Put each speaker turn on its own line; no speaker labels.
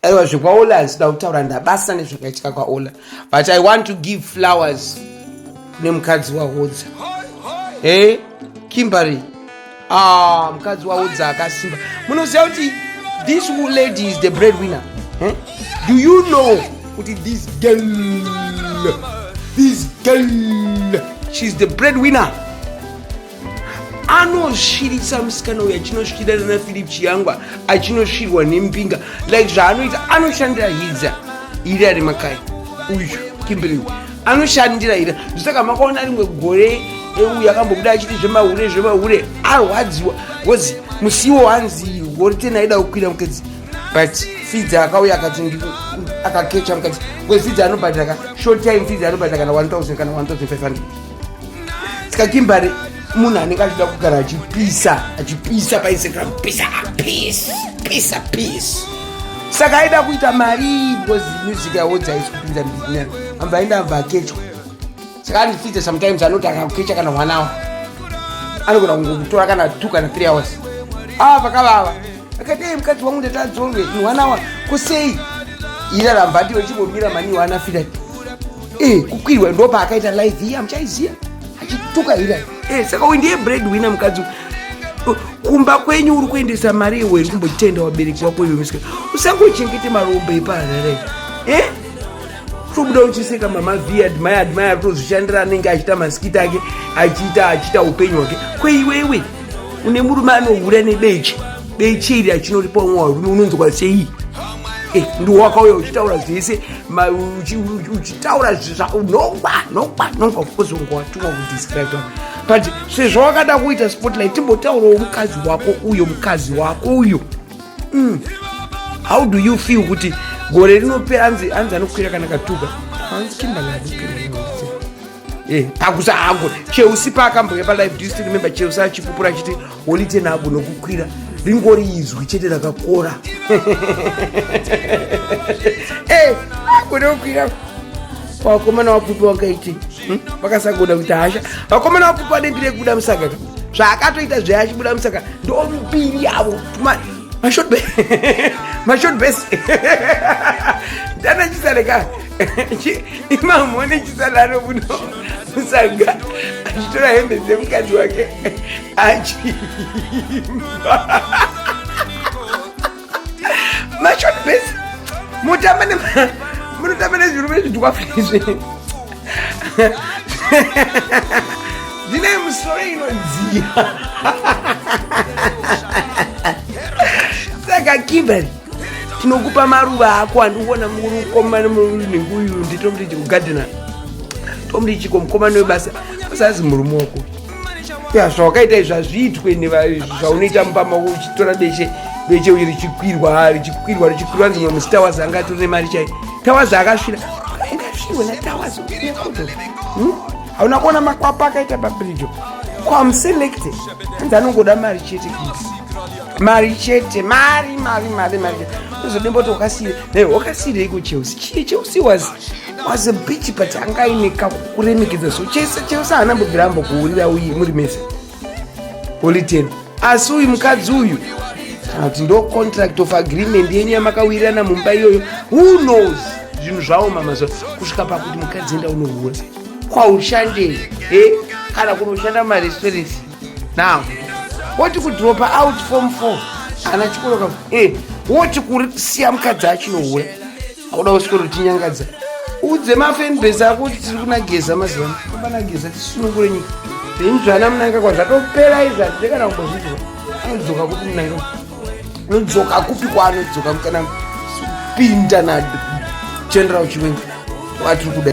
aiwa zvekwaola hazvida kutaura ndabasa nezvakaitika kwaola but i want to give flowers kune mukadzi wahodza e kimbery ah, mukadzi wahodza akasimba munoziva kuti this lady is the bread winner eh? do you know kuti this girl this girl she's the bread winner anosvirisa musikana uyo achinosvira nana philip chiyangwa achinosvirwa nembinga like zvaanoita anoshandira hidza iri ari makai uyu kimberly anoshandira ira zvisaka makaona rimwe gore euyu akambobuda achiti zvemahure zvemahure arwadziwa bcause musiwo wanzi gore ten aida kukwira mukadzi but fidza akauya akati akakecha mukadzi bcause fidza anobhadhaka short time fidza anobhadhaka na 1000 kana 1500 ska kimbari munhu anenge achida kugara achipisa achipisa painstagram pisa peace pisa peace saka aida kuita mari because music yawo dzaisi kupinda mbinyana amba aenda amba akechwa saka andifite sometimes anoti akakukecha kana one hour anogona kungokutora kana two kana three hours ava ah, pakavava akati ei mukadzi wangu ndatadzonge in one hour kusei iraramba ndiwe chimbomira mani wana fira e kukwirwa ndo paakaita live iya muchaiziya achituka ira e saka uyu ndiye bread winner mukadzi kumba kwenyu uri kuendesa mari iwe iri kumbotenda wabereki wako iwe musika usangochengete marombe ipaharare e eh? tobuda uchiseka mama vi admire admire atozvishandira anenge achita masikita ake achiita achiita upenyu hwake kweiwewe une murume anohura nebeche beche iri achinoripa umwe warume unonzwa sei eh, ndiwakauya uchitaura zvese uchitaura zvinokwa nokwa nokwa kukozi unga watumwa kudescribe but sezvo wakada kuita spotlight timbotaurawo mukadzi wako uyo mukadzi wako uyo mm. how do you feel kuti gore rinopera anzi anokwira kana katuka hanzi kimbaladi Eh, pakusa hangu cheusi paakamboya palive do you still remember cheusi achipupura achiti holite nhabvu nokukwira ringori izwi chete rakakora eh, kunokwira vakomana vapupi vakaiti hmm? vakasagoda kuita hasha vakomana vapupi vanenge rekubuda musaka zvaakatoita zve achibuda musaka ndo mbiri yavo mashot bes mashot bes ndanachisareka imamone chisadaro kuno musaga achitora hembe dzemukadzi wake achiimba mashot bas mutamba munotamba nezvirume zvidwafu izvi ndine musoro inodziya saka kimberly tinokupa maruva ako andiona mukomana nenguyu nditomri chikugadhena tomri chiko mukomana webasa usazi murume wako ya zvawakaita izvi hazviitwe zvaunoita mupama uchitora beshe beshe uyu richikwirwa richikwirwa richikwirwa nzimwe musita wazi anga atori nemari chai tawazi akasvira ingasvirwe natawazi hmm? hauna kuona makwapa akaita pabirijo kwamuselekte anzi anongoda mari chete mari chete mari mari mari mari uzodimboti wakasiire ne wakasiirei kuchelsea chii chelsea was was a bitch but anga aine kakuremekedza so chese chelse haana mbobvira ambokuurira uyi muri mese oliten asi uyu mukadzi uyu kana kuti ndo contract of agreement yenyu yamakawirirana mumba iyoyo who knows zvinhu zvaoma mazuva kusvika pakuti mukadzi enda unohura kwaushandei e kana kunoshanda mumarestaurants now woti kudropa out form four ana chikoroka eh, woti kuri siya mukadzi achinohura akuda usikoro tinyangadza udze mafenbase ako kuti tiri kunageza mazivano obanageza tisunungure nyika zvinhu zvana munanga kwa zvatopera izvi hazvide kana kumbozviziva anodzoka kupi munanga anodzoka kupi kwaanodzoka kana pinda nageneral chiwenga watiri kuda